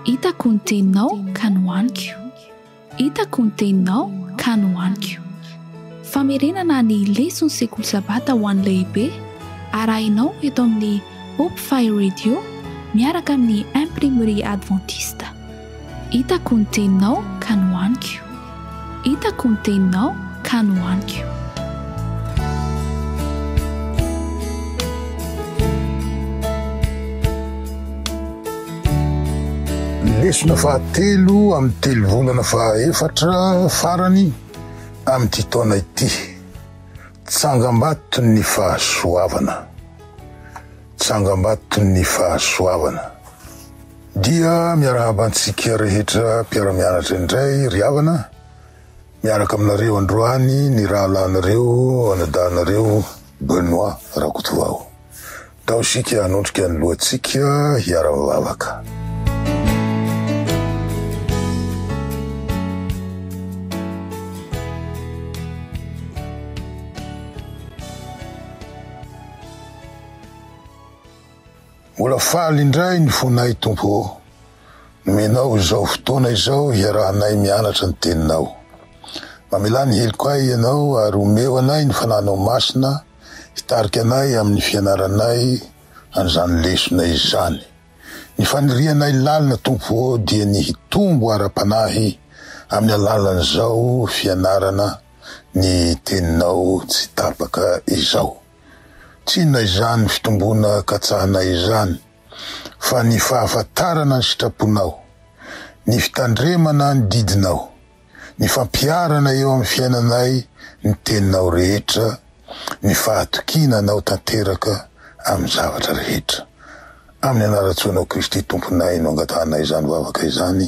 Hitako ny teninao ka nohaniko. Hitako ny teninao ka nohaniko. Famerenana ny leson'ny sekoly Sabata ho an'ny lehibe arahinao eto amin'ny Hope Fire Radio miaraka amin'ny Imprimerie Adventiste. Hitako ny teninao ka nohaniko. Hitako ny teninao ka nohaniko. Lesona fahatelo amin'ny telovolana fahaefatra farany amin'ity taona ity. Tsangambaton'ny fahasoavana. Tsangambaton'ny fahasoavana. Dia miarahaba antsika rehetra mpiara-mianatra indray ry havana. Miaraka aminareo androany ny rahalahinareo anadahinareo Benoit Rakotovao. Tao isika hanondrika ny lohantsika hiara-mivavaka. Mbola faly indray ny fonay Tompo ô, nomenao izao fotoana izao hiarahanay mianatra ny Teninao. Mamelà ny heloko ahy Ianao ary omeo anay ny Fanahinao Masina hitarika anay amin'ny fianaranay an'izany lesona izany. Ny fanirianay lalina Tompo ô dia ny hitombo ara-panahy amin'ny alalan'izao fianarana ny Teninao tsy tapaka izao. Tsinona izany fitomboana katsahanay izany fa ny fahafantarana ny sitraponao, ny fitandremana ny didinao, ny fampiharana eo amin'ny fiainanay ny teninao rehetra, ny fahatokiana anao tanteraka amin'ny zavatra rehetra. Amin'ny anaran-tsoanao Kristy Tomponay no angatahanay izany vavaka izany.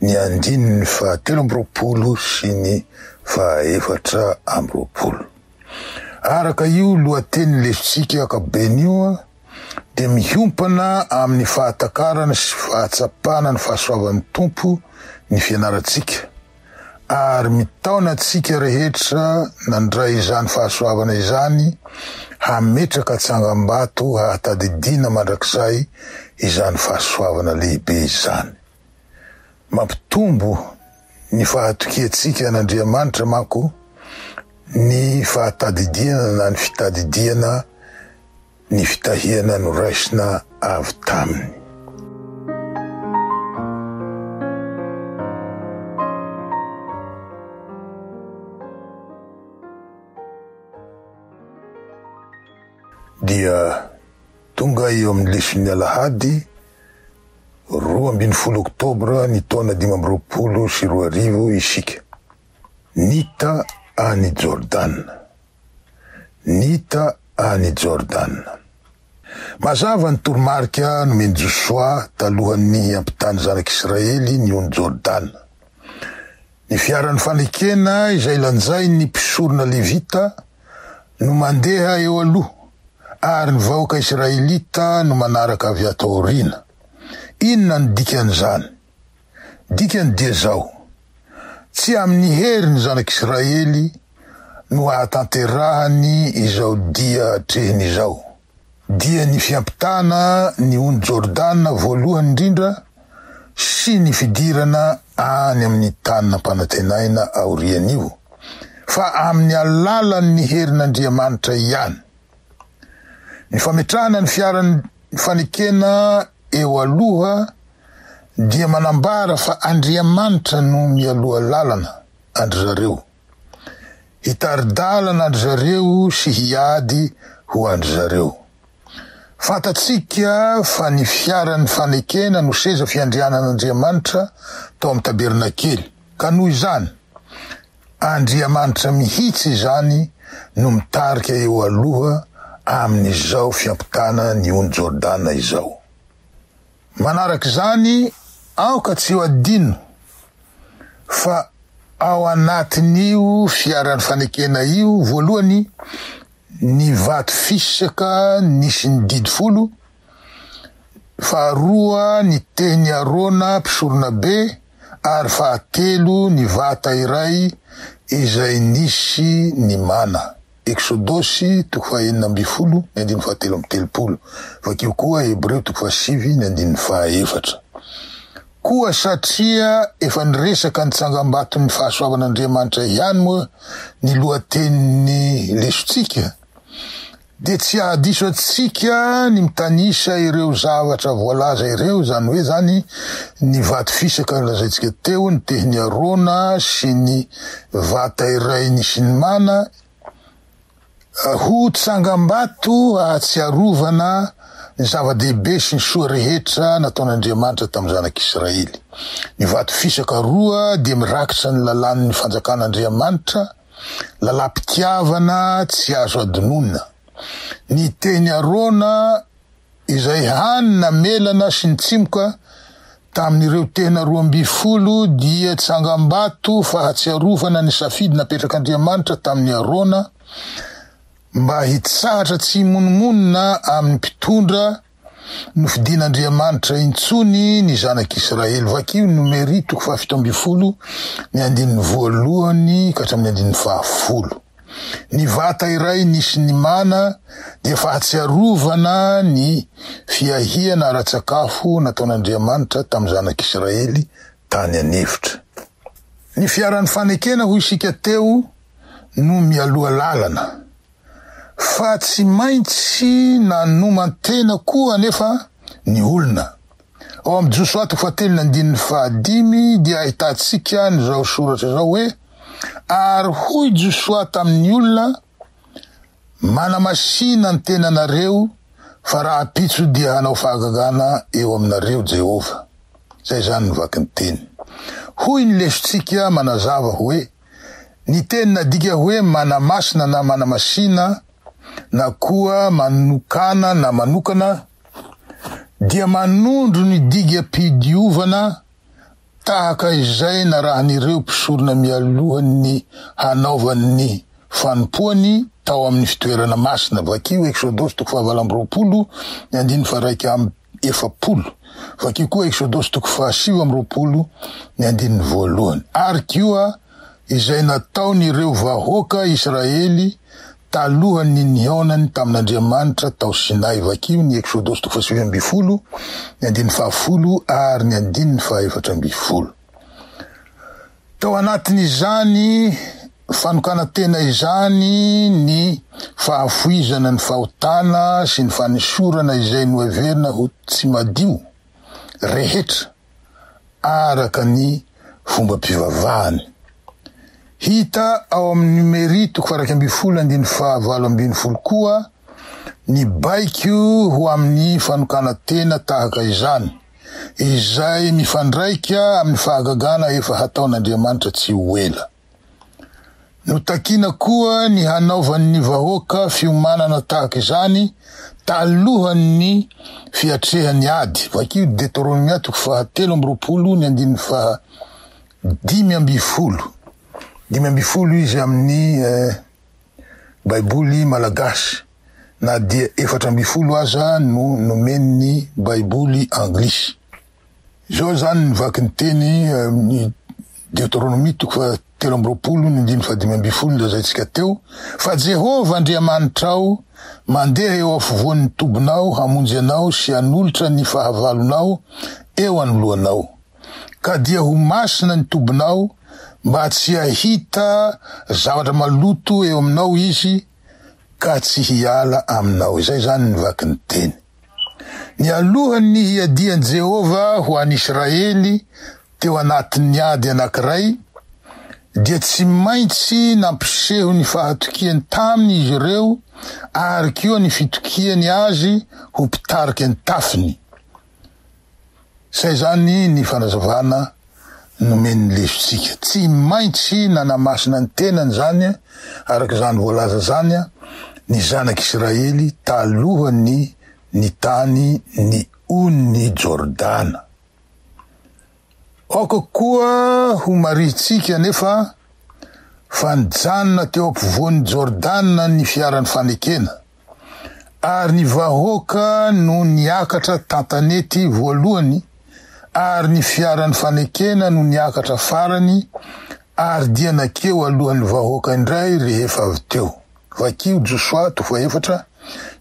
ny andininy fahatelo amby roapolo sy ny fahaefatra amby roapolo. Araka io lohateny lesotsika ankapobeny io dia miompana amin'ny fahatakarana sy fahatsapana ny fahasoavan'ny Tompo ny fianarantsika. ary mitaona antsika rehetra nandray izany fahasoavana izany hametraka tsangambato hahatadidiana mandrakizay izany fahasoavana lehibe izany. Mampitombo ny fahatokiantsika an'Andriamanitra manko ny fahatadidiana na ny fitadidiana ny fitahiana noraisina avy taminy. Dia tonga eo amin'ny lesoin'ny alahady roa ambin'ny folo oktobra ny taona dimy amby roapolo sy roa arivo isika, nita any Jordana. Nita any Jordana. Mazava ny toromarika nomen'i Josoa talohan'ny hampitany zanak'Israely ny ony Jordana. Ny fiaran'ny fanekena izay lanjain'ny mpisorona levita no mandeha eo aloha ary ny vahoaka israelita no manaraka avy ato aoriana. Inona no dikan'izany? Dikany dia izao, Tsy amin'ny hery ny zanak'Israely no hahatanterahany izao dia atrehiny izao, dia ny fiampitana ny ony Jordana voalohany indrindra sy ny fidirana any amin'ny tany nampanantenaina aorian'io, fa amin'ny alalan'ny herin'Andriamanitra ihany. Ny fametrahana ny fiaran'ny fanekena eo aloha dia manambara fa Andriamanitra no mialoha lalana an-dry zareo, hitari-dalana an-dry zareo sy hiady ho an-dry zareo. Fantatsika fa ny fiaran'ny fanekena no seza fiandrianan'Andriamanitra tao amin'ny tabernakely, ka noho izany, Andriamanitra mihitsy izany no mitarika eo aloha amin'izao fiampitana ny ony Jordana izao. Manarak'izany, aoka tsy ho adino fa ao anatin'io fiaran'ny fanekena io, voalohany, ny vato fisaka nisy ny didy folo, faharoa ny teny Arona mpisoronabe, ary fahatelo ny vata iray izay nisy ny mana. Eksodosy toko fahenina ambin'ny folo ny andininy fahatelo amby telopolo. Vakio koa Hebreo toko fahasivy ny andininy fahaefatra. Koa satria efa niresaka ny tsangambaton'ny fahasoavan'Andriamanitra ihany moa ny lohatenin'ny lesontsika, Dia tsy hahadiso antsika ny mitanisa ireo zavatra voalaza ireo, izany hoe izany ny vato fisaka nolazaintsika teo, ny tehiny Arona sy ny vata iray nisinimana ho tsangambato ahatsiarovana ny zava-dehibe sy ny soa rehetra nataon'Andriamanitra tamin'ny zanak'Israely. Ny vato fisaka roa dia mirakitra ny lalàn'ny fanjakan'Andriamanitra. Lalam-pitiavana tsy azo adinoina. Ny teny Arona izay hany namelana sy nitsimoka tamin'ireo tena roa ambin'ny folo dia tsangambato fahatsiarovana ny safidy napetrak'Andriamanitra tamin'i Arona mba hitsahatra tsy himonomonona amin'ny mpitondra Nofidin'Andriamanitra intsony ny zanak'Israely. Vakio Nomery toko fahafito ambin'ny folo, ny andininy voalohany ka hatramin'ny andininy fahafolo. Ny vata iray nisy ny mana dia fahatsiarovana ny fiahiana ara-tsakafo nataon'Andriamanitra tamin'ny zanak'Israely tany an'efitra. Ny fiaran'ny fanekena, hoy isika teo, no mialoha lalana. fa tsy maintsy nanoman-tena koa anefa ny olona. Ao amin'ny Josoa toko fahatelony andininy fahadimy dia ahitantsika an'izao soratra izao hoe, Ary hoy Josoa tamin'ny olona, Manamasina ny tenanareo, fa rahampitso dia hanao fahagagana eo aminareo Jehovah. Izay izany ny vakin'ny teny. Hoy ny lesontsika manazava hoe. Ny teny nadika hoe manamasina na manamasina na koa manokana na manokana dia manondro ny digam-pidiovana tahaka izay narahin'ireo mpisorona mialohan'ny hanaovany ny fanompoany tao amin'ny fitoerana masina, vakio Eksodosy toko fahavalo amby roapolo ny andininy faharaika amby. efapolo. Vakio koa Eksodosy toko fahasivy amby roapolo ny andininy voalohany. Ary koa izay nataon'ireo vahoaka Israely talohan'ny nihaonany tamin'Andriamanitra tao Sinay. Vakio ny Eksodosy toko fahasivy ambin'ny folo, ny andininy fahafolo ary ny andininy fahaefatra ambin'ny folo. Tao anatin'izany fanokanan-tena izany ny fahavoizana ny fahotana sy ny fanesorana izay noheverina ho tsy madio rehetra araka ny fombam-pivavahany. Hita ao amin'ny Numery toko faha-iraika ambin'ny folo andininy faha-valo ambin'ny folo koa ny baiko ho amin'ny fanokanan-tena tahaka izany. izay mifandraika amin'ny fahagagana efa hataon'Andriamanitra tsy ho ela. Notakina koa ny hanaovan'ny vahoaka fiomanana tahaka izany talohan'ny fiatrehan'ny ady, vakio Deteronomia toko fahatelo amby roapolo ny andininy faha dimy ambin'ny folo, dimy ambin'ny folo izy amin'ny eh, Baiboly malagasy. na dia efatra ambin'ny folo aza no nomen'ny Baiboly anglisy. Izao izany ny vakin'ny teny amin'ny Deoteronomia toko fahatelo amby roapolo ny andininy fahadimy ambin'ny folo nolazaintsika teo, Fa Jehovah Andriamanitrao mandeha eo afovoan'ny tobinao hamonjy anao sy hanolotra ny fahavalonao eo anoloanao, ka dia ho masina ny tobinao, mba tsy hahita zavatra maloto eo aminao izy, ka tsy hiala aminao. Izay izany ny vaky ny teny. Nialohan'ny nihiadian'i Jehovah ho an'i Israely teo anatin'ny ady anankiray, dia tsy maintsy nampiseho ny fahatokiany taminy izy ireo ary koa ny fitokiany azy ho mpitarika ny tafiny. Izay izany ny fanazavana nomen'ny lefitsika. Tsy maintsy nanamasina ny tenany izany, araka izany voalaza izany, ny zanak'i Israely talohan'ny nitany ny Ony Jordana. Aoka koa homarihintsika anefa fa nijanona teo ampovoan'i Jordana ny fiaran'ny fanekena. ary ny vahoaka no niakatra tantanety voalohany ary ny fiaran'ny fanekena no niakatra farany ary dia nakeo alohan'ny vahoaka indray rehefa avy teo. Vakio Josoa toko efatra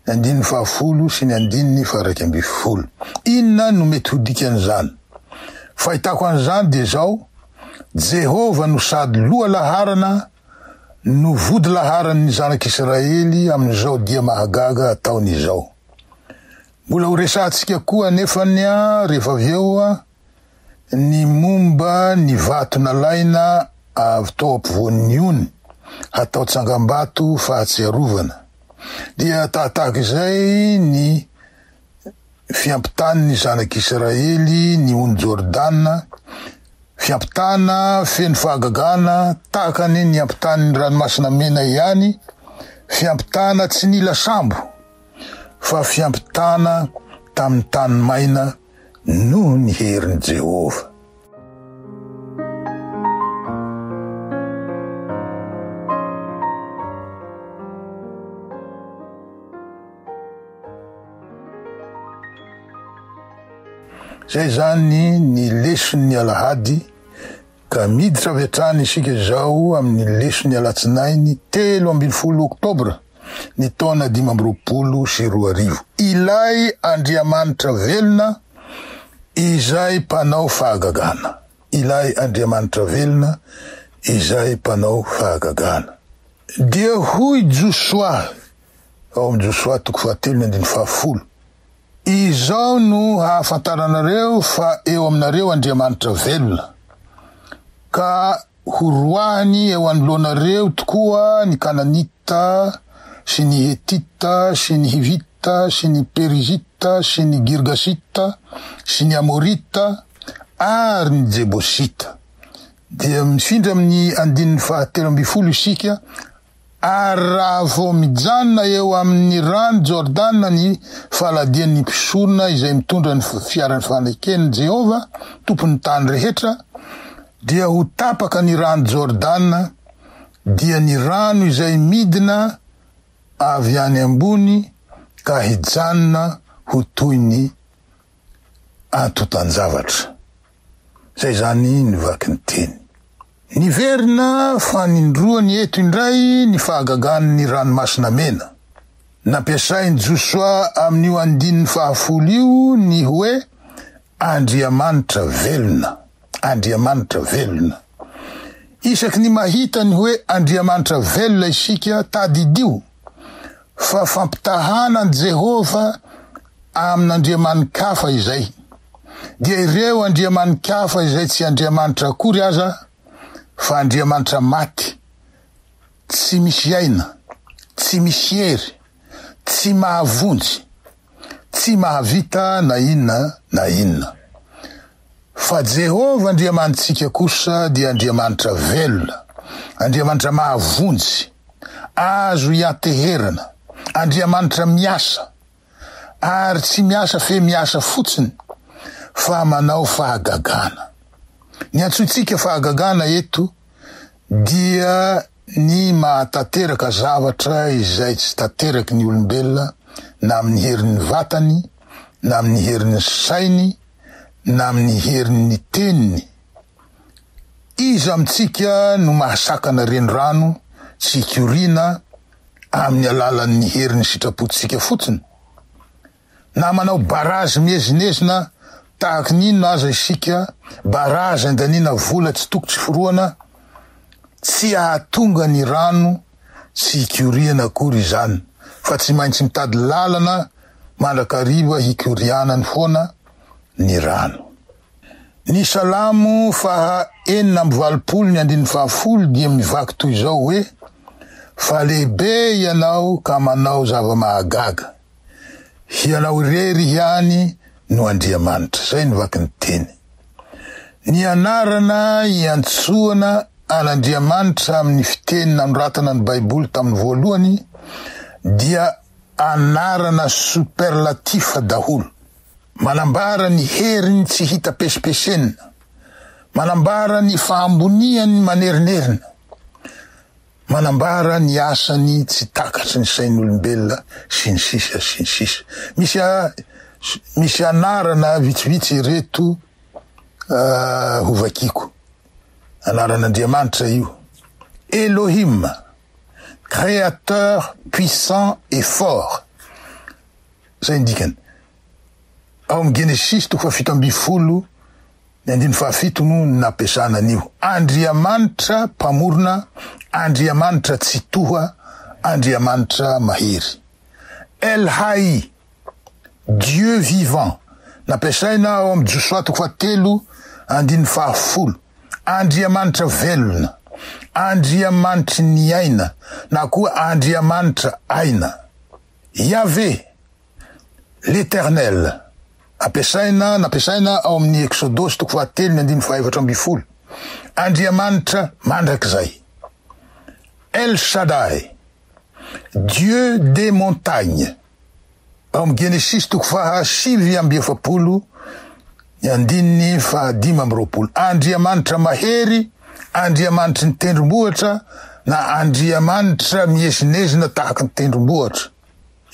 ny andininy fahafolo sy ny andininy faharaika ambin'ny folo. Inona no mety ho dikan'izany? Fahitako an'izany dia izao, Jehovah no sady loha laharana no vodilaharan'ny zanak'Israely amin'izao dia mahagaga ataony izao. Mbola horesahantsika koa anefa ny rehefa avy eo ny momba ny vato nalaina avy tao ampovoan'ny ony hatao tsangambato fahatsiarovana. Dia tahatahaka izay ny fiampitàn'ny Zanak'Israely ny ony Jordana, fiampitàna feno fahagagana tahaka ny niampitàn'ny Ranomasina Mena ihany, fiampitàna tsy nila sambo, fa fiampitàna tamin'ny tany maina noho ny herin'i Jehovah. zay zany ny leson'ny alahady ka miditra avy hatrany isika izao amin'ny leson'ny alatsinainy telo ambin'ny folo oktobra ny taona dimy amby roapolo sy roa arivo. Ilay Andriamanitra velona izay mpanao fahagagana. Ilay Andriamanitra velona izay mpanao fahagagana. Dia hoy Josoa, ao amin'ny Josoa toko fahatelo ny andininy fahafolo, Izao no hahafantaranareo fa eo aminareo Andriamanitra velona, ka Horoahany eo anoloanareo tokoa ny Kananita sy ny Hetita sy ny Hivita sy ny Perizita sy ny Girgasita sy ny Amorita ary ny Jebosita. Dia mifindra amin'ny andininy fahatelo ambin'ny folo isika Ary raha vao mijanona eo amin' ny ran' i Jôrdana ny faladian' ny mpisorona izay mitondra ny fiaran' ny faneken' i Jehovah, Tompon' ny tany rehetra, dia ho tapaka ny ran' i Jôrdana, dia ny rano izay midina avy any ambony ka hijanona ho toy ny antontan-javatra. Izay izany ny vaky ny teny. Niverina fanindroany eto indray ny fahagagan'ny Ranomasina Mena. Nampiasain'i Josoa amin'io andininy fahafolo io ny hoe Andriamanitra velona. Andriamanitra velona. Isaky ny mahita ny hoe Andriamanitra velona isika, tadidio fa fampitahàna an'i Jehovah amin'andriamani-kafa izay. Dia ireo andriamani-kafa izay tsy Andriamanitra akory aza, fa andriamanitra maty, tsy misy aina, tsy misy hery, tsy mahavonjy. tsy mahavita na inona na inona. Fa Jehovah Andriamanitsika kosa dia Andriamanitra velona, Andriamanitra mahavonjy, azo ianteherana, Andriamanitra miasa, ary tsy miasa fe miasa fotsiny, fa manao fahagagana. Ny antsointsika fahagagana eto dia. Ny mahatanteraka zavatra izay tsy tanteraky ny olombelona na amin'ny herin'ny vatany, na amin'ny herin'ny sainy, na amin'ny herin'ny teniny. Iza amintsika no mahasakana renirano tsy hikoriana amin'ny alalan'ny herin'ny sitrapontsika fotsiny? Na manao barazy miezinezina tahaka ny inona aza isika, barazy andaniana vola tsy toko tsy forohana, tsy hahatonga ny rano tsy hikoriana akory izany fa tsy maintsy mitady lalana mandrakariva hikorianany foana ny rano. Ny Salamo faha enina amby valopolo ny andininy faha folo dia mivaky toy izao hoe, Fa lehibe Ianao ka manao zava-mahagaga. Hianao irery ihany no Andriamanitra. Izay no vaky ny teny. Ny anarana iantsoana an'Andriamanitra amin'ny fiteny nanoratana ny Baiboly tamin'ny voalohany dia anarana superlatif daholo. Manambara ny heriny tsy hita pesimpesenina. Manambara ny fahamboniany manerinerina. Manambara ny asany tsy takatry ny sain'olombelona sy ny sisa sy ny sisa. Misy misy anarana vitsivitsy ireto hovakiako. Anaran'Andriamanitra io. Elohim, Créateur puissant et fort. Zay ny dikany. Ao amin'ny Genesisy toko fahafito ambin'ny folo. Ny andininy fahafito no nampiasana an'io. Andriamanitra Mpamorona, Andriamanitra Tsitoha, Andriamanitra Mahery. El Hay, Dieu vivant, nampiasaina ao amin'ny Josoa toko fahatelo andininy fahafolo, Andriamanitra Velona, Andriamanitry ny Aina na koa Andriamanitra Aina. Iaveh, L'Eternel, ampiasaina, nampiasaina ao amin' ny Eksodosy toko fahatelo ny andininy fahaefatra ambin'ny folo, Andriamanitra mandrakizay, El Shaddai, Dieu des montagnes, ao amin' ny Genesisy toko fahasivy amby efapolo ny andininy fahadimy amby roapolo, Andriamanitra mahery, Andriamanitry ny tendrombohitra, na Andriamanitra miezinezina tahaka ny tendrombohitra.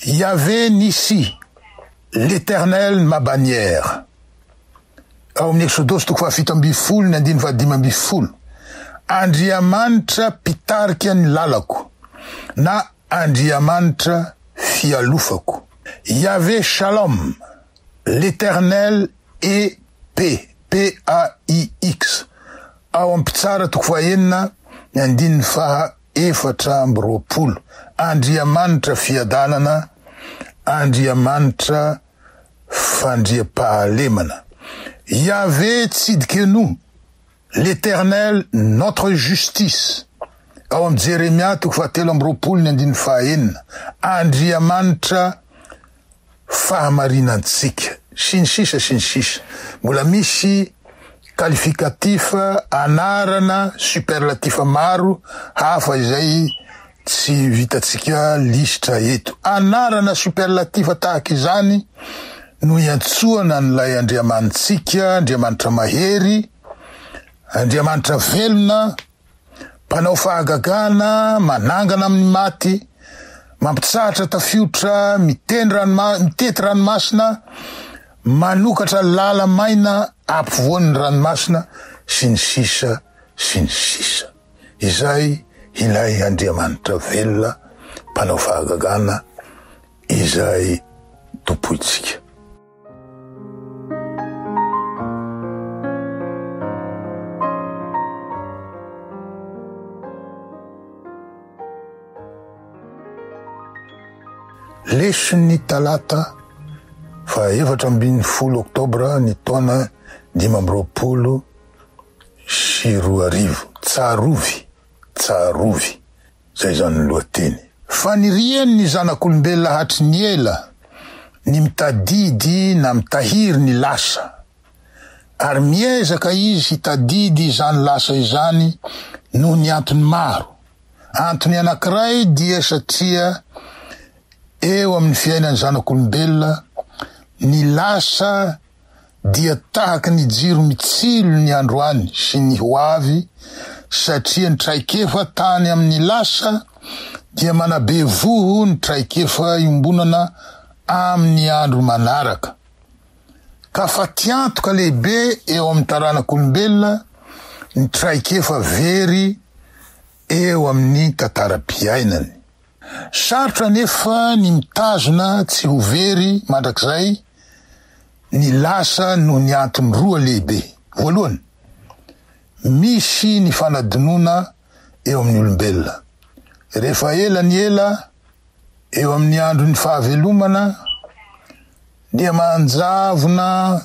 Yaveh Nissi, L'Eternel ma bannière, ao amin'ny Eksodosy toko fahafito ambin'ny folo ny andininy fahadimy ambin'ny folo, Andriamanitra mpitarika ny lalako na Andriamanitra fialofako. Yaveh Shalom, L'Eternel est paix, PAIX, ao amin'ny Mpitsara toko fahenina ny andininy faha efatra amby roapolo, Andriamanitra fiadanana, Andriamanitra fandriampahalemana. Yaveh Tsidkenu, L'Eternel notre justice, ao amin'ny Jeremia toko fahatelo amby roapolo ny andininy fahaenina, Andriamanitra fahamarinantsika, sy ny sisa sy ny sisa Mbola misy qualificatif, anarana, superlatif maro hafa izay tsy vitantsika lisitra eto. Anarana superlatif tahaka izany no iantsoana an'ilay Andriamanitsika, Andriamanitra mahery, Andriamanitra velona, Mpanao fahagagana, manangana amin'ny maty, mampitsahatra tafiotra, mitety ranomasina, manokatra lala maina ampovoan'ny ranomasina, sy ny sisa sy ny sisa. Izay ilay Andriamanitra velona, mpanao fahagagana, izay Tompointsika. Lesin'ny talata fa efatra ambin'ny folo oktobra ny taona dimy amby roapolo sy roa arivo. Tsarovy, tsarovy. Izay izany ny lohateny. Fanirian' ny zanak' olombelona hatry ny ela ny mitadidy na mitahiry ny lasa, ary miezaka izy hitadidy izany lasa izany noho ny antony maro. Antony anankiray dia satria eo amin' ny fiainan' ny zanak' olombelona ny lasa dia tahaka ny jiro mitsilo ny androany sy ny ho avy satria ny traikefa tany amin'ny lasa dia manabe voho ny traikefa iombonana amin'ny andro manaraka ka fatiantoka lehibe eo amin'ny taranak'olombelona ny traikefa very eo amin'ny tantaram-piainany. Sarotra anefa ny mitazona tsy ho very mandrakizay ny lasa noho ny antony roa lehibe. Voalohany, misy ny fanadinoana eo amin'ny olombelona. Rehefa ela ny ela, eo amin'ny andron'ny fahavelomana, dia manjavona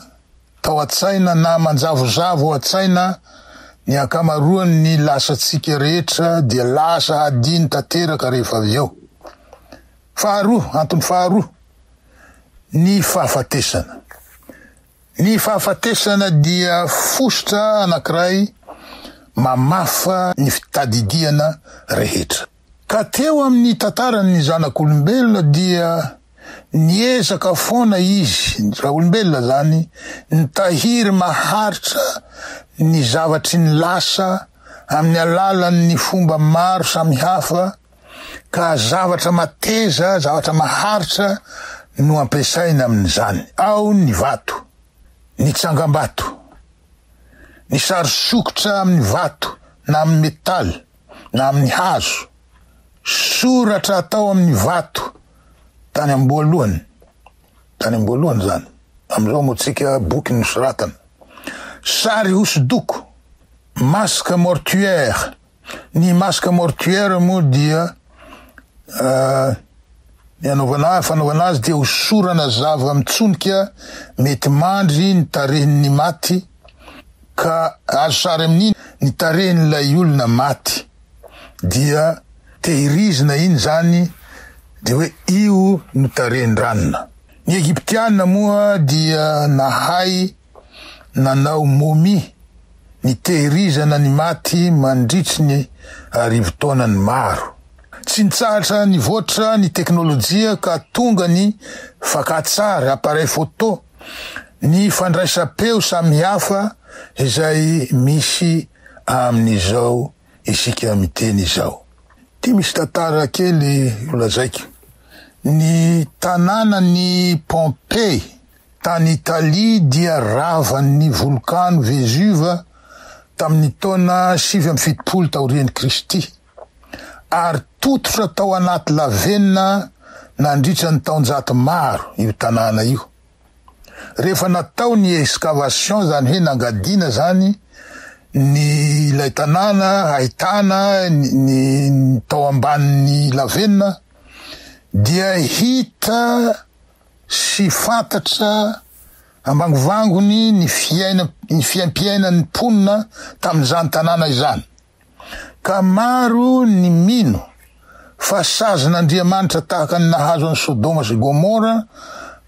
tao an-tsaina na manjavozavo ao an-tsaina ny ankamaroan' ny lasantsika rehetra dia lasa hadino tanteraka rehefa avy eo. Faharoa, antony faharoa, ny fahafatesana. Ny fahafatesana dia fositra anankiray mamafa ny fitadidiana rehetra. Ka teo amin'ny tantaran'ny zanak'olombelona dia niezaka foana izy, ny zanak'olombelona izany, nitahiry maharitra ny zavatry ny lasa amin'ny alalan'ny fomba maro samihafa ka zavatra mateza, zavatra maharitra no ampiasaina amin'izany. Ao ny vato, ny tsangambato, ny sary sokitra amin'ny vato na amin'ny métal. na amin'ny hazo, soratra atao amin'ny vato tany am-boalohany, tany am-boalohany izany, amin'izao moa tsika boky nosoratana, sary hosodoko, masque mortuaire, ny masque mortuaire moa dia Ny anaovana fanaovana azy dia hosorana zava-mitsonika mety mandry ny tarehin'ny maty ka azo sary amin'iny ny tarehin'ilay olona maty dia tehirizina iny izany dia hoe io no tarehin-dranona. Ny Egyptiana moa dia nahay nanao momie, nitehirizana ny maty mandritry ny arivo taonany maro. Tsy nitsahatra nivoatra ny teknolojia ka tonga ny fakantsary, appareil photo, ny fandraisam-peo samihafa izay misy amin'izao isika miteny izao. Ity misy tantara kely ho lazaiko. Ny tanànan'i Pompey Tany Italia dia ravan'ny volkano Vesuve tamin'ny taona sivy amby fitopolo taorian'i Kristy, ary tototra tao anaty lavenona nandritra ny taonjato maro io tanàna io. Rehefa natao ny excavation, izany hoe nangadiana izany ny ilay tanàna ahitana ny tao ambanin'ny lavenona, dia hita sy fantatra ambangovangony ny fiaina ny fiaimpiainan'ny mponina tamin'izany tanàna izany, ka maro ny mino fa sazin'Andriamanitra tahaka ny nahazo an'i Sodoma sy Gomora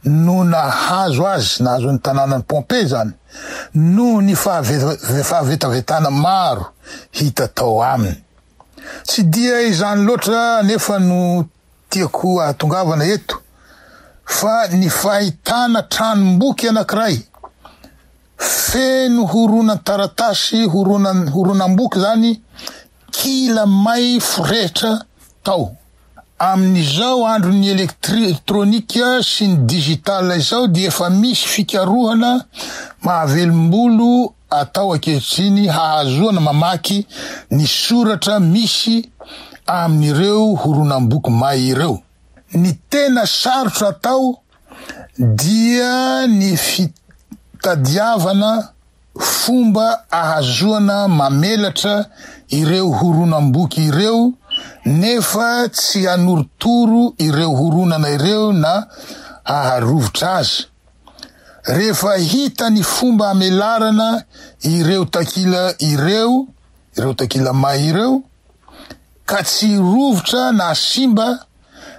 no nahazo azy, nahazo ny tanànan'i Pompey izany, noho ny fahavetavetana maro hita tao aminy. Tsy dia izany loatra anefa no Tiako ahatongavana eto fa ny fahitana tranom-boky anankiray feno horonan-taratasy, horonam-boky izany, kila may forehitra tao. Amin'izao andron'ny elektronika sy ny digital izao dia efa misy fikarohana mahavelom-bolo atao ankehitriny hahazoana mamaky ny soratra misy amin'ireo horonam-boky may ireo. Ny tena sarotra atao dia ny fitadiavana fomba ahazoana mamelatra ireo horonam-boky ireo nefa tsy hanorotoro ireo horonana ireo na haharovitra azy. rehefa hita ny fomba amelarana ireo takila ireo, ireo takila may ireo, ka tsy rovitra na simba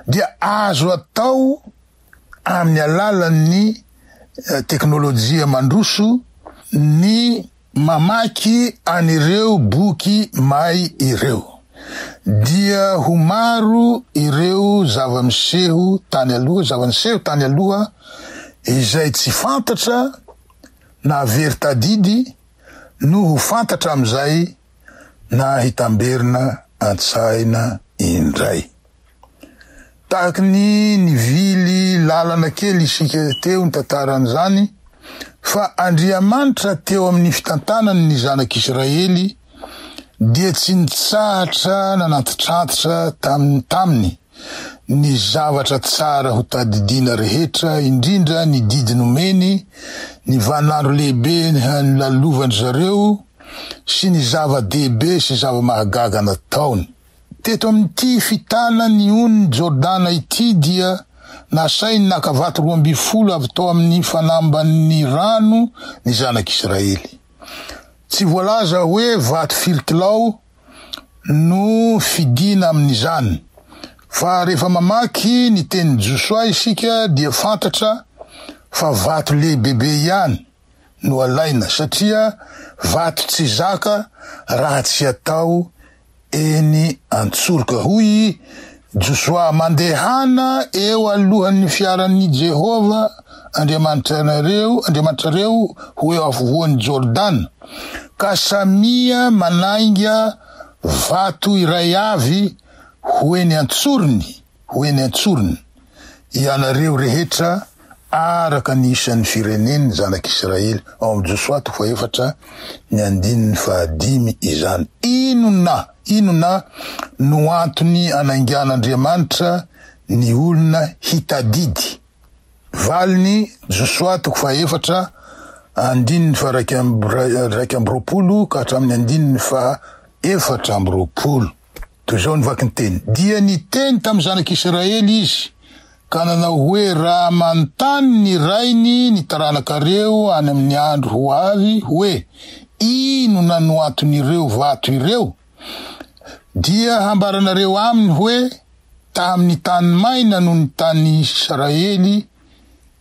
dia azo atao amin'ny alalan'ny eh, teknolojia mandroso ny Mamaky an'ireo boky may ireo, dia ho maro ireo zava-miseho tany aloha, zava-niseho tany aloha izay tsy fantatra na very tadidy no ho fantatra amin'izay na hitamberina an-tsaina indray. Tahaka ny nivily lalana kely isika teo ny tantaran'izany, fa Andriamanitra teo amin'ny fitantanany ny zanak'Israely dia tsy nitsahatra nanantitrantitra tamin'ny taminy ny zavatra tsara ho tadidiana rehetra indrindra ny didy nomeny, ny vaninandro lehibe nilalovan-dry zareo sy ny zava-dehibe sy zava-mahagaga nataony. Teto amin'ity fitana ny onin'i Jordana ity dia nasainy naka vato roa ambin'ny folo avy tao amin'ny fanamban'ny rano ny zanak'Israely. Tsy voalaza hoe vato firy kilao no fidina amin'izany, fa rehefa mamaky ny tenin'i Josoa isika dia fantatra fa vato lehibebe ihany. no alaina satria vato tsy zaka raha tsy atao eny an-tsoroka, hoy i Josoa. Mandehana eo alohan'ny fiaran'i Jehovah Andriamanitrareo, Andriamanitrareo, ho eo afovoan'i Jordana, ka samia manainga vato iray avy ho eny an-tsorony. ho eny an-tsorony ianareo rehetra araka ny isan'ny firenen'ny zanak'Israely, ao amin'ny Josoa toko fahefatra ny andininy fahadimy izany. Inona, inona no antony anaingan'Andriamanitra ny olona hitadidy? Valiny, Josoa toko fahefatra andininy faha iraika amby roapolo ka hatramin'ny andininy faha efatra amby roapolo. Toy izao ny vaky ny teny, Dia niteny tamin'ny zanak'Israely izy ka nanao hoe, Raha manontany ny rainy ny taranakareo any amin'ny andro ho avy hoe, Inona no anton'ireo vato ireo? dia hambaranareo aminy hoe, Tamin'ny tany maina no nitan'Israely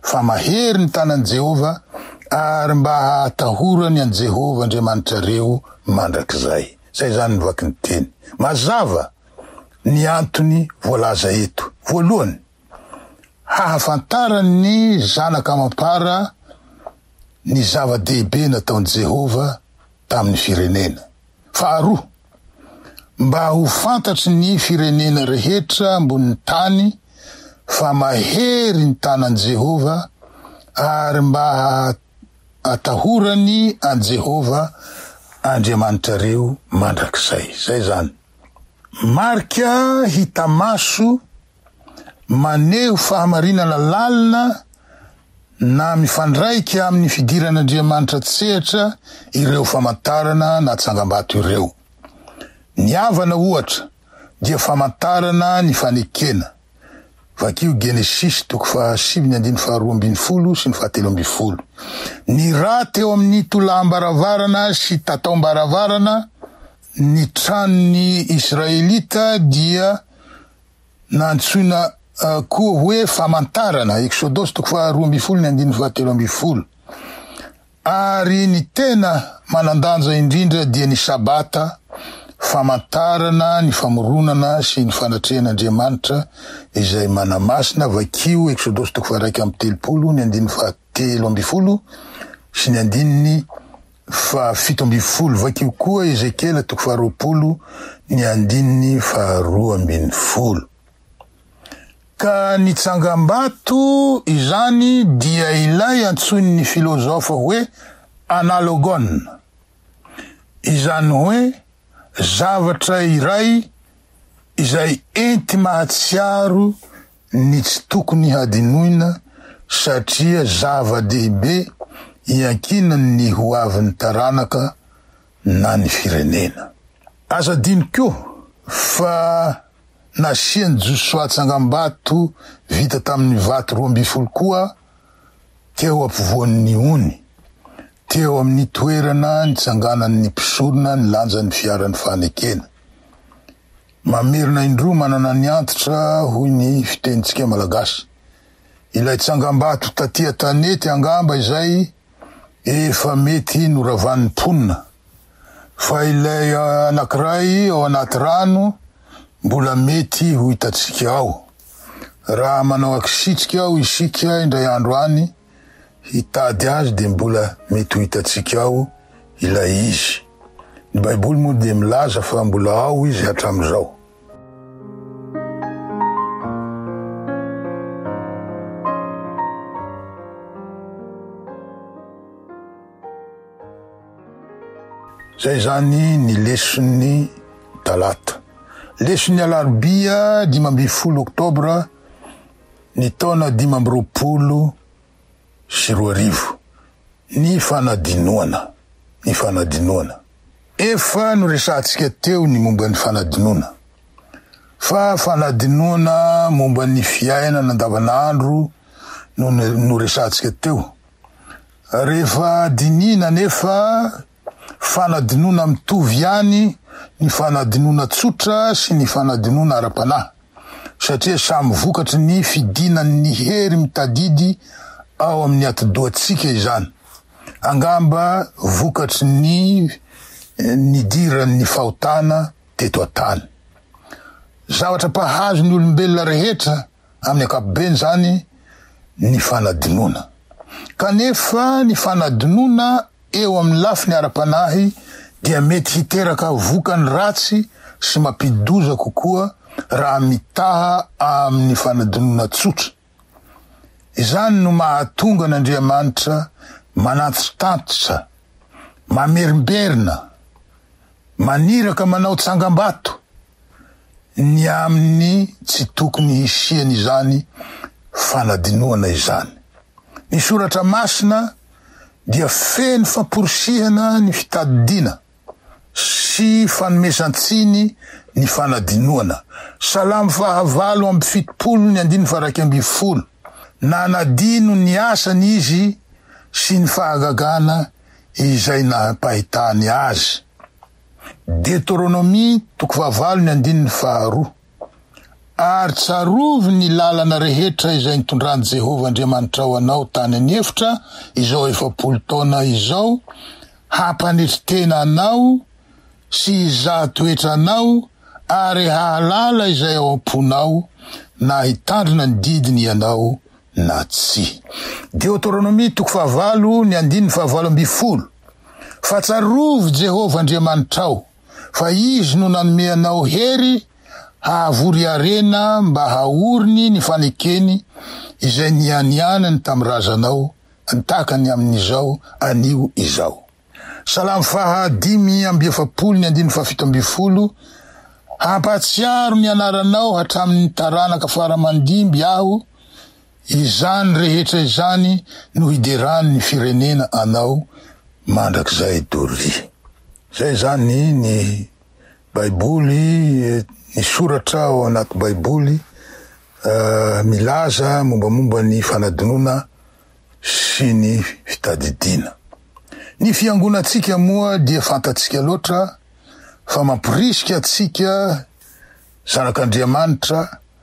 fa mahery ny tanan'i Jehovah, ary mba hahatahorany an'i Jehovah Andriamanitrareo mandrakizay. Izay izany ny vaky ny teny. Mazava ny antony voalaza eto. Voalohany, hahafantaran'ny zanaka amam-para ny zava-dehibe nataon'i Jehovah tamin'ny firenena. Faharoa, mba ho fantatry ny firenena rehetra ambonin'ny tany fa mahery ny tanan'i Jehovah, ary mba hahatahorany an'i Jehovah Andriamanitrareo mandrakizay. Izay izany. Marika hita maso maneho fahamarinana lalina na mifandraika amin'ny fidiran'Andriamanitra an-tsehatra ireo famantarana na tsangambato ireo. Ny havana, ohatra, dia famantarana ny fanekena. Vakio Genesisy toko fahasivy ny andininy faharoa ambin'ny folo sy ny fahatelo ambin'ny folo. Ny ra teo amin'ny tolaham-baravarana sy tataom-baravarana ny tranon'ny Israelita dia na antsoina koa hoe famantarana, Eksodosy toko faha roa ambin'ny folo ny andininy faha telo ambin'ny folo, ary ny tena manan-danja indrindra dia ny Sabata, famantarana ny famoronana sy ny fanatrehan'Andriamanitra izay manamasina, vakio Eksodosy toko faha iraika amby telopolo ny andininy faha telo ambin'ny folo sy ny andininy fahafito ambin'ny folo. Vakio koa Ezekiela toko faharoapolo ny andininy faharoa ambin'ny folo. Ka ny tsangambato izany dia ilay antsoin'ny filozofa hoe analogon, izany hoe zavatra iray izay enti-mahatsiaro ny tsy tokony hadinoina satria zava-dehibe iankinan' ny ho avin'ny taranaka na ny firenena. Aza adino koa fa nasian'i Josoa tsangambato vita tamin'ny vato roa ambin'ny folo koa teo ampovoan'ny ony, teo amin'ny toerana nitsanganan'ny mpisorona nilanja ny fiaran'ny fanekena. Mamerina indroa manana ny antitra hoy ny fitenintsika malagasy. Ilay tsangambato taty an-tanety angamba izay efa mety noravan'ny mponina. Fa ilay anankiray ao anaty rano mbola mety ho hitantsika ao. Raha manao ankisitrika ao isika indray andro any, hitady azy dia mbola mety ho hitantsika ao ilay izy. Ny Baiboly moa dia milaza fa mbola ao izy hatramin'izao. Izay izany ny leson'ny Talata. Leson'ny Alarobia dimy ambin'ny folo Oktobra ny taona dimy amby roapolo sy roa arivo, ny fanadinoana, ny fanadinoana. Efa noresahantsika teo ny momba ny fanadinoana, fa fanadinoana momba ny fiainana andavanandro no noresahantsika teo. Rehefa dinihina anefa fanadinoana mitovy ihany ny fanadinoana tsotra sy ny fanadinoana ara-panahy, satria samy vokatry ny fidinan'ny hery mitadidy ao amin'ny atidohantsika izany. Angamba vokatry ny nidiran'ny fahotana teto an-tany. Zavatra mpahazo ny olombelona rehetra. amin'ny ankapobeny izany ny fanadinoana. Kanefa ny fanadinoana eo amin'ny lafiny ara-panahy dia mety hiteraka vokany ratsy sy mampidi-doza kokoa raha mitaha amin'ny fanadinoana tsotra. Izany no mahatonga an'Andriamanitra manantitantitra, mamerimberina, maniraka manao tsangambato, ny amin'ny tsy tokony hisian'izany fanadinoana izany. Ny Soratra Masina dia feno famporisihana ny fitadidiana sy fanomezan-tsiny ny fanadinoana. Salamo fahavalo amby fitopolo ny andininy faharaika ambin'ny folo, Nanadino ny asany izy sy ny fahagagana izay nampahitany azy. Deteronomia toko fahavalo ny andininy faharoa, Ary tsarovy ny lalana rehetra izay nitondran'i Jehovah Andriamanitrao anao tany an'efitra izao efapolo taona izao, hampanetry tena anao sy hizaha toetra anao ary hahalala izay ao am-ponao, na hitandrina ny didiny ianao na tsia. Deteronomia toko fahavalo ny andininy fahavalo ambin'ny folo. Fa tsarovy Jehovah Andriamanitrao, fa izy no nanome anao hery hahavory harena mba haoriny ny fanekeny izay nianianany tamin'ny razanao, takany amin'izao anio izao. Salamo faha dimy amby efapolo ny andininy faha fito ambin'ny folo Hampahatsiaro ny anaranao hatramin'ny taranaka fara mandimby aho, Izany rehetra izany no hideran'ny firenena anao mandrakizay Dolly. Izay izany ny baiboly, ny soratra ao anaty baiboly milaza mombamomba ny fanadinoana sy ny fitadidiana. Ny fiangonantsika moa dia fantatsika loatra fa mamporisika antsika zanak'Andriamanitra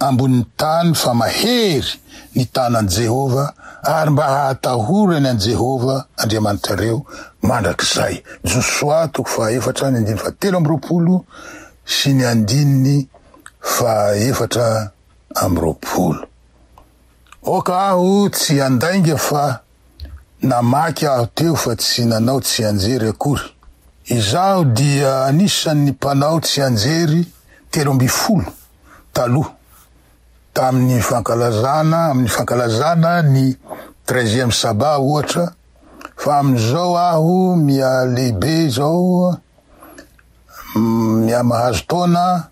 ambonin'ny tany fa mahery ny tanan'i Jehovah, ary mba hahatahorany an'i Jehovah Andriamanitrareo mandrakizay. Josoa toko fahaefatra ny andininy fahatelo amby roapolo sy ny andininy fahaefatra amby roapolo. Aoka aho tsy handainga fa Namaky aho teo fa tsy nanao tsianjery akory. Izaho dia anisan'ny mpanao tsianjery telo ambin'ny folo taloha tamin'ny fankalazana amin'ny fankalazana ny treizième sabbat ohatra fa amin'izao aho miha lehibe izao miha mahazo taona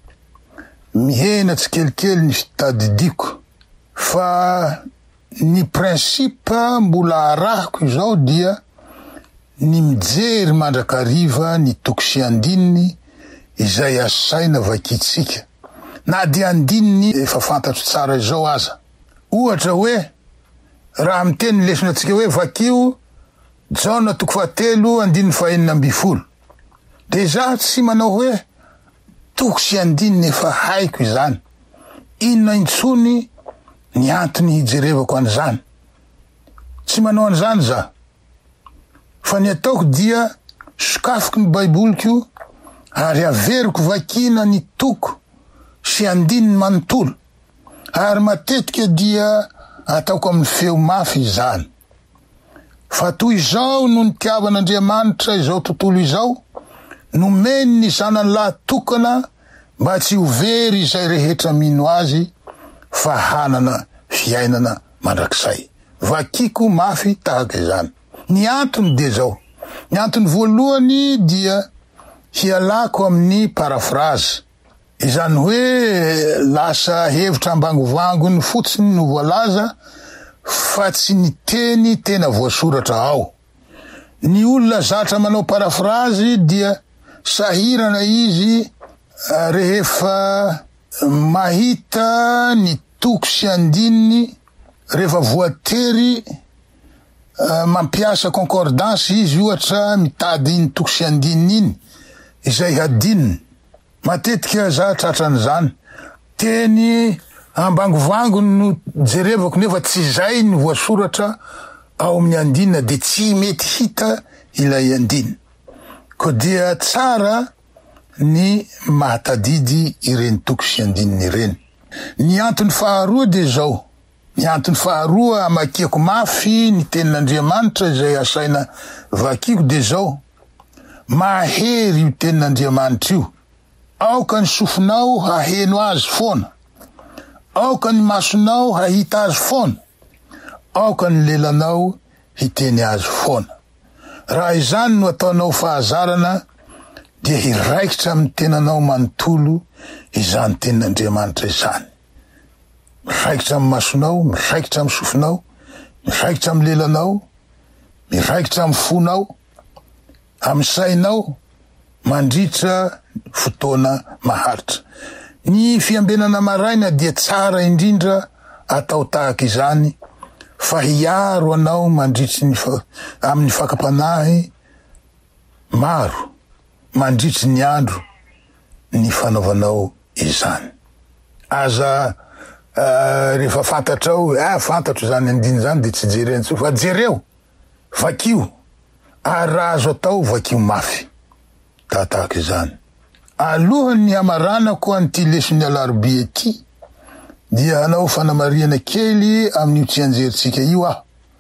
mihena tsikelikely ny fitadidiako fa Ny principe mbola arahiko izao dia ny mijery mandrakariva ny toko sy andininy izay asaina vakintsika, na dia andininy efa fantatro tsara izao aza. Ohatra hoe, raha miteny ny lesona antsika hoe vakio Jaona toko fahatelo andininy fahenina ambin'ny folo, Dia za tsy manao hoe toko sy andininy efa haiko izany, inona intsony ny antony hijerevako an'izany. Tsy manao an'izany za. Fa ny ataoko dia sokafiko ny baiboliko ary averiko vakiana ny toko sy andininy manontolo ary matetika dia ataoko amin'ny feo mafy izany. Fa toy izao no nitiavan'Andriamanitra izao tontolo izao, nomeny ny Zanany lahy tokana mba tsy ho very izay rehetra mino Azy fa hanana fiainana mandrakizay. Vakiko mafy tahaka izany. Ny antony dia izao, ny antony voalohany dia hialako amin'ny paraphrase. Izany hoe lasa hevitra ambangovangony fotsiny no voalaza fa tsy ny teny tena voasoratra ao. Ny olona zatra manao parafrazy dia sahirana izy rehefa mahita ny toko sy andininy rehefa voatery mampiasa concordance izy ohatra mitady iny toko sy andininy iny izay hadinony. Matetika za tratran'izany. Teny ambangovangony no jerevako nefa tsy izay ny voasoratra ao amin'ny andinina dia tsy mety hita ilay andinina. Koa dia tsara ny mahatadidy ireny toko sy andininy ireny. Ny antony faharoa dia izao, ny antony faharoa amakiako mafy ny tenin'Andriamanitra izay asaina vakiako dia izao, Mahery io Tenin'Andriamanitra io. Aoka ny sofinao haheno azy foana. Aoka ny masonao hahita azy foana. Aoka ny lelanao hiteny azy foana. Raha izany no ataonao fahazarana, dia hiraikitra amin'ny tenanao manontolo izany Tenin'Andriamanitra izany. Miraikitra amin'ny masonao, miraikitra amin'ny sofinao, miraikitra amin'ny lelanao, miraikitra amin'ny fonao, amin'ny sainao mandritra fotoana maharitra. Ny fiambenana maraina dia tsara indrindra atao tahaka izany fa hiaro anao mandritry ny amin'ny fakam-panahy maro mandritry ny andro. ny fanaovanao izany. Aza rehefa fantatrao hoe ah fantatro izany andininy izany dia tsy jereo intsony fa jereo, vakio ary raha azo atao vakio mafy. Da tahaka izany. Alohan'ny hamaranako an'ity leson'ny alarobia ity dia hanao fanamarihana kely amin'io tsianjerintsika io aho.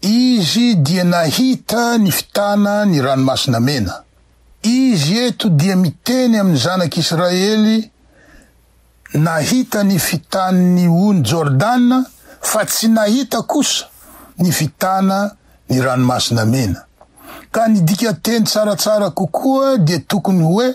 Izy dia nahita ny fitana ny Ranomasina Mena. Izy eto dia miteny amin'ny zanak' Israely nahita ny fitan'ny ony Jordana fa tsy nahita kosa ny fitana ny Ranomasina Mena. Ka ny dikanteny tsaratsara kokoa dia tokony hoe.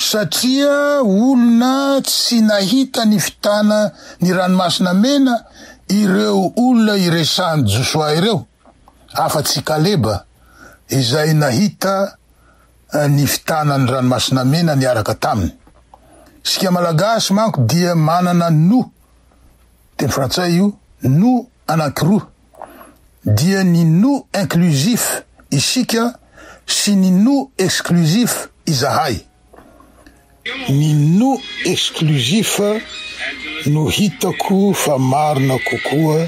Satria olona tsy nahita ny fitana ny Ranomasina Mena ireo olona iresahan'i Josoa ireo, afa-tsy i Kaleba izay nahita ny fitana ny Ranomasina Mena niaraka taminy. Isika Malagasy manko dia manana noho Teny frantsay io nous anankiroa dia ny nous inclusif, isika, sy ny nous exclusif, izahay. Ny nous exclusif no hitako fa marina kokoa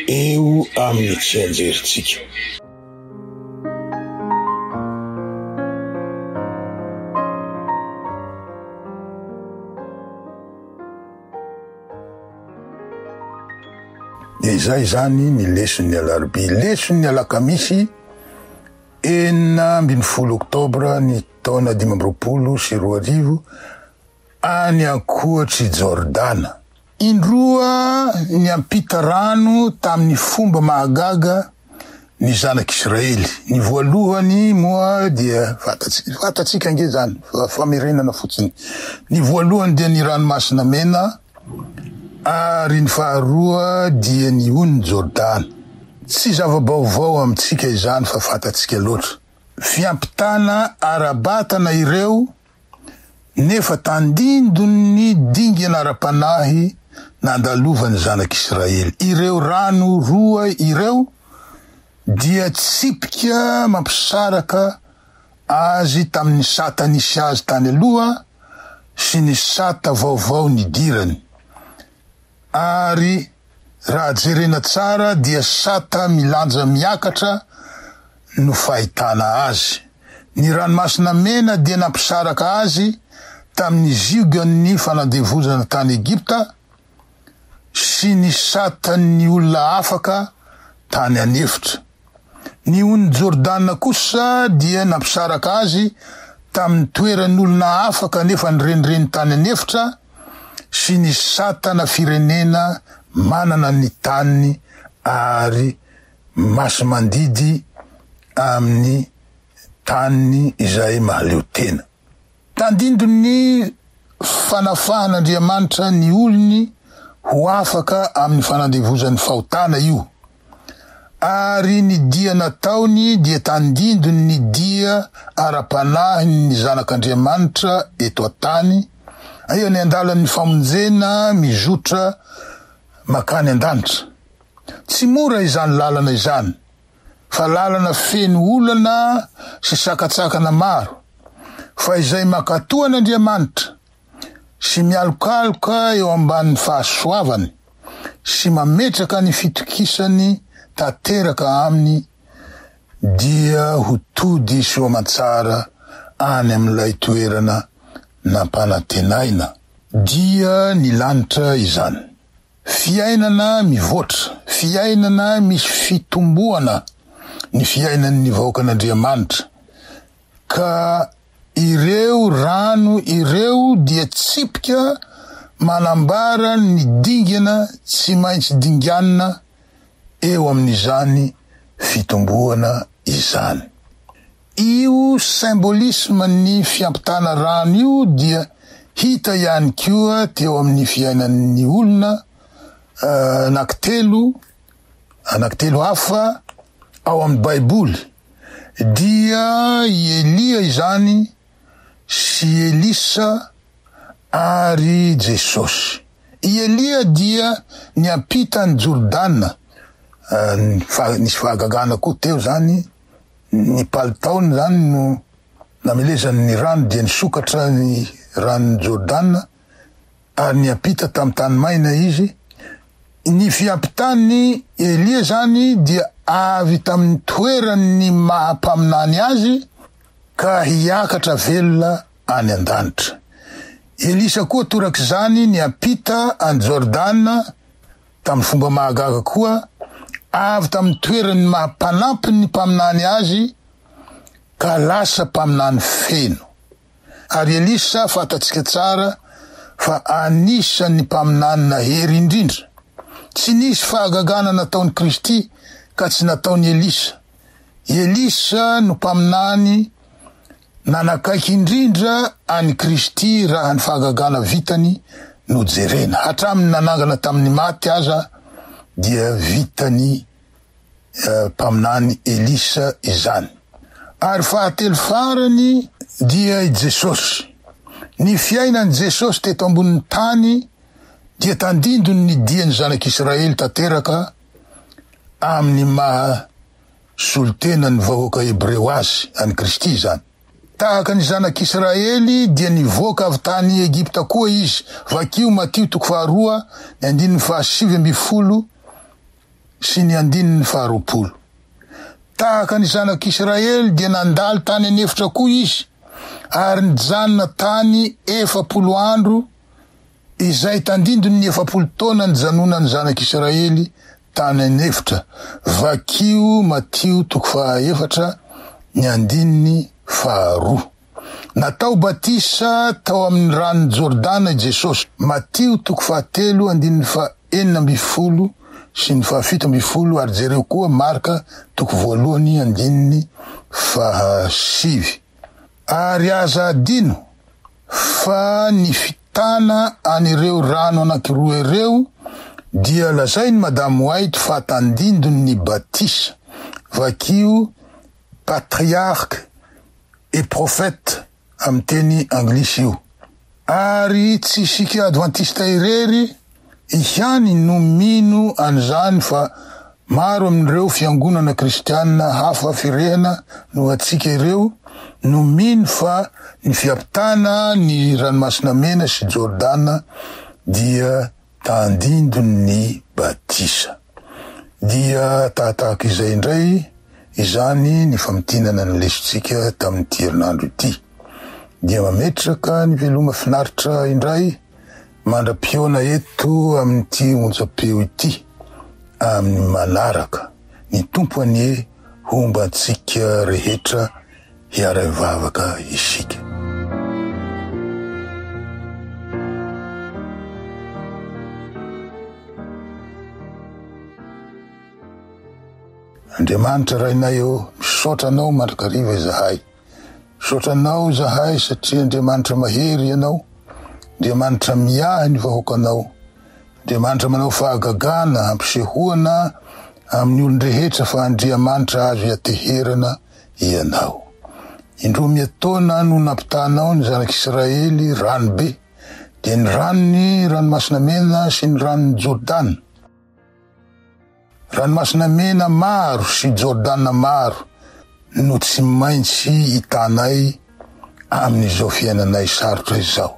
eo amin'ny tsianjerintsika. Izay izany ny leson'ny alarobia. Leson'ny alakamisy enina ambin'ny folo oktobra ny taona dimy amby roapolo sy roa arivo any ankoatr'i Jordana. Indroa niampita rano tamin'ny fomba mahagaga ny zanak'i Israely. Ny voalohany moa dia fantatsika ange zany, famerenana fotsiny. Ny voalohany dia ny ranomasina mena ary ny faharoa dia ny ony Jordana. Tsy zava-baovao amintsika izany fa fantatsika loatra. Fiampitana ara-batana ireo nefa tandindon'ny dingana ara-panahy nandalovan'ny Zanak'Israely. Ireo rano roa ireo dia tsipika mampisaraka azy tamin'ny sata nisy azy tany aloha sy ny sata vaovao nidirany. Ary raha jerena tsara dia sata milanja miakatra no fahitana azy. Ny Ranomasina Mena dia nampisaraka azy tamin'ny ziogan'ny fanandevozana tany Egypta sy ny satan'ny olona afaka tany an'efitra. Ny ony Jordana kosa dia nampisaraka azy tamin'ny toeran'olona hafa kanefa nirenireny tany an'efitra sy ny satana firenena manana ny taniny ary masi-mandidy amin'ny taniny izay mahaleo tena. Tandindon'ny fanafahan'Andriamanitra ny olony ho afaka amin'ny fanandevozan'ny fahotana io, ary ny dia nataony dia tandindon'ny dia ara-panahin'ny zanak'Andriamanitra eto an-tany, aiza ny andalan'ny famonjena mizotra mankany an-danitra? Tsy mora izany lalana izany. fa lalana feno olana sy sakantsakana maro, fa izay mankatò an'Andriamanitra sy mialokaloka eo ambanin'ny fahasoavany sy mametraka ny fitokisany tanteraka aminy dia ho tody soamantsara any amin'ilay toerana nampanantenaina. Dia ny lanitra izany. Fiainana mivoatra, fiainana misy fitomboana ny fiainan'ny vahoakan'Andriamanitra, ka ireo rano ireo dia tsipika manambara ny dingana tsy maintsy dinganina eo amin'izany fitomboana izany. Io symbolisme ny fiampitana rano io dia hita ihany koa teo amin'ny fiainan'ny olona anankitelo anankitelo hafa ao amin'ny Baiboly, dia i Elia izany sy Elisa ary Jesosy. I Elia dia niampita an'i Jordana, nisy fahagagana koa teo izany Ny palitaony izany no namelezany ny rano dia nisokatra ny ranon'i Jordana ary niampita tamin'ny tany maina izy. Ny fiampitan'i Elia izany dia avy tamin'ny toeran'ny maha-mpaminany azy ka hiakatra velona any an-danitra. Elisa koa torak'izany niampita an'i Jordana Tamin'ny fomba mahagaga koa, avy tamin'ny toeran'ny maha-mpanampy ny mpaminany azy ka lasa mpaminany feno. Ary Elisa fantatsika tsara fa anisan'ny mpaminany nahery indrindra. Tsy nisy fahagagana nataon'i Kristy ka tsy nataon'i Elisa. Elisa no mpaminany Nanakaiky indrindra an'i Kristy raha ny fahagagana vitany no jerena. Hatramin'ny nanangana tamin'ny maty aza dia vitan'ny mpaminany Elisa izany. Ary fahatelo farany dia i Jesosy. Ny fiainan'i Jesosy teto ambonin'ny tany dia tandindon'ny dian'ny zanak'Israely tanteraka amin'ny maha solontenan'ny vahoaka hebreo azy, an'i Kristy izany. Tahaka ny zanak'Israely dia nivoaka avy tany Egypta koa izy, vakio Matio toko faharoa, ny andininy fahasivy ambin'ny folo sy ny andininy faharoapolo. Tahaka ny zanak'Israely dia nandalo tany an'efitra koa izy, ary nijanona tany efapolo andro, izay tandindon' ny efapolo taona nijanonan'ny Zanak' Isiraely tany an'efitra, vakio Matio toko fahaefatra ny andininy faharoa. Natao batisa tao amin'ny ranon'i Jordana i Jesosy, Matio toko fahatelo andininy fahenina ambin'ny folo sy ny fahafito ambin'ny folo, ary jereo koa Marka toko voalohany andininy fahasivy. Ary aza adino fa ny Tana an'ireo rano anankiroa ireo dia lazain'i Madame White fa tandindon'ny batisa, vakio patriarche et prophète amin'ny teny anglisy io. Ary tsy isika advantista irery ihany no mino an'izany fa maro amin'ireo fiangonana kristiana hafa firehana noho antsika ireo no mino fa ny fiampitana ny Ranomasina Mena sy Jordana dia tandindon'ny batisa. Dia tahatahaka izay indray izany ny famintinana ny lesotsika tamin'ity herinandro ity. Dia mametraka ny veloma finaritra indray Mandra-pihaona eto amin'ity onjam-peo ity amin'ny manaraka. Ny Tompo anie homba antsika rehetra hiara-hivavaka isika. Andriamanitra Rainay ô, misaotra Anao mandrakariva izahay. Misaotra anao izahay satria Andriamanitra mahery ianao, Andriamanitra miahy ny vahoakanao, Andriamanitra manao fahagagana, hampisehoana amin'ny olon-drehetra fa Andriamanitra azo iateherana ianao. Indroa miatoana no nampitahanao ny zanak'Israely rano be, dia ny ranon'ny Ranomasina Mena sy ny ranon'ny Jordana. Ranomasina Mena maro sy Jordana maro no tsy maintsy hitanay amin'izao fiainanay sarotra izao.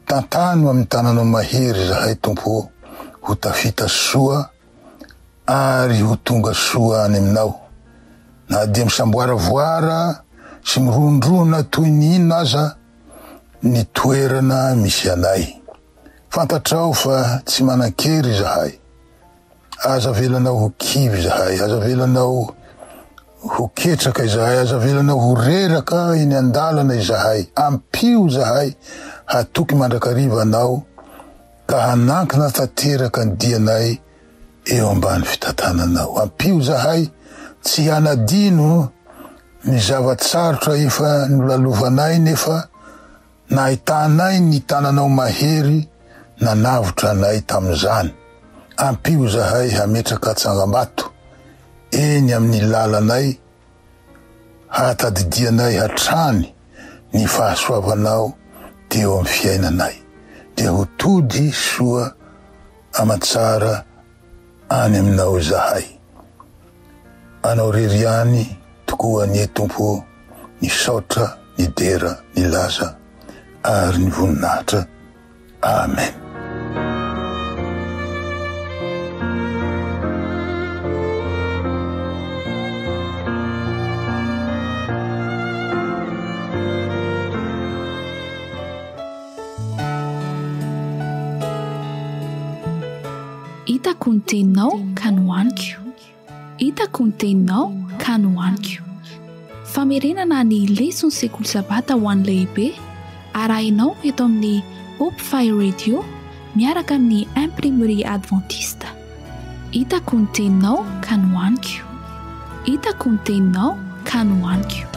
Tantano amin'ny tananao mahery izahay Tompo ô, ho tafita soa ary ho tonga soa any aminao. Na dia misamboaravoara sy mirondrona toy ny inona aza ny toerana misy anay. Fantatrao fa tsy manan-kery izahay. Aza avelanao ho kivy izahay, aza avelanao ho ketraka izahay, aza avelanao ho reraka eny an-dalana izahay. Ampio izahay hatoky mandrakariva Anao ka hanankina tanteraka ny dianay eo ambany fitantananao. Ampio izahay tsy hanadino ny zava-tsarotra efa nolalovanay nefa Nahitanay ny tananao mahery nanavotra anay tamin'izany. Ampio izahay hametraka tsangambato eny amin'ny lalanay hahatadidianay hatrany ny fahasoavanao teo amin'ny fiainanay. Dia ho tody soa aman-tsara any aminao izahay. Anao irery ihany tokoa anie Tompo ô ny saotra, ny dera, ny laza ary ny voninahitra. Amen. Hitako ny teninao ka nohaniko Hitako ny teninao ka nohaniko Famerenana ny leson'ny sekoly sabata ho an'ny lehibe arahinao eto amin'ny Hope Fire Radio miaraka amin'ny Imprimerie Adventiste. Hitako ny teninao ka nohaniko Hitako ny teninao ka nohaniko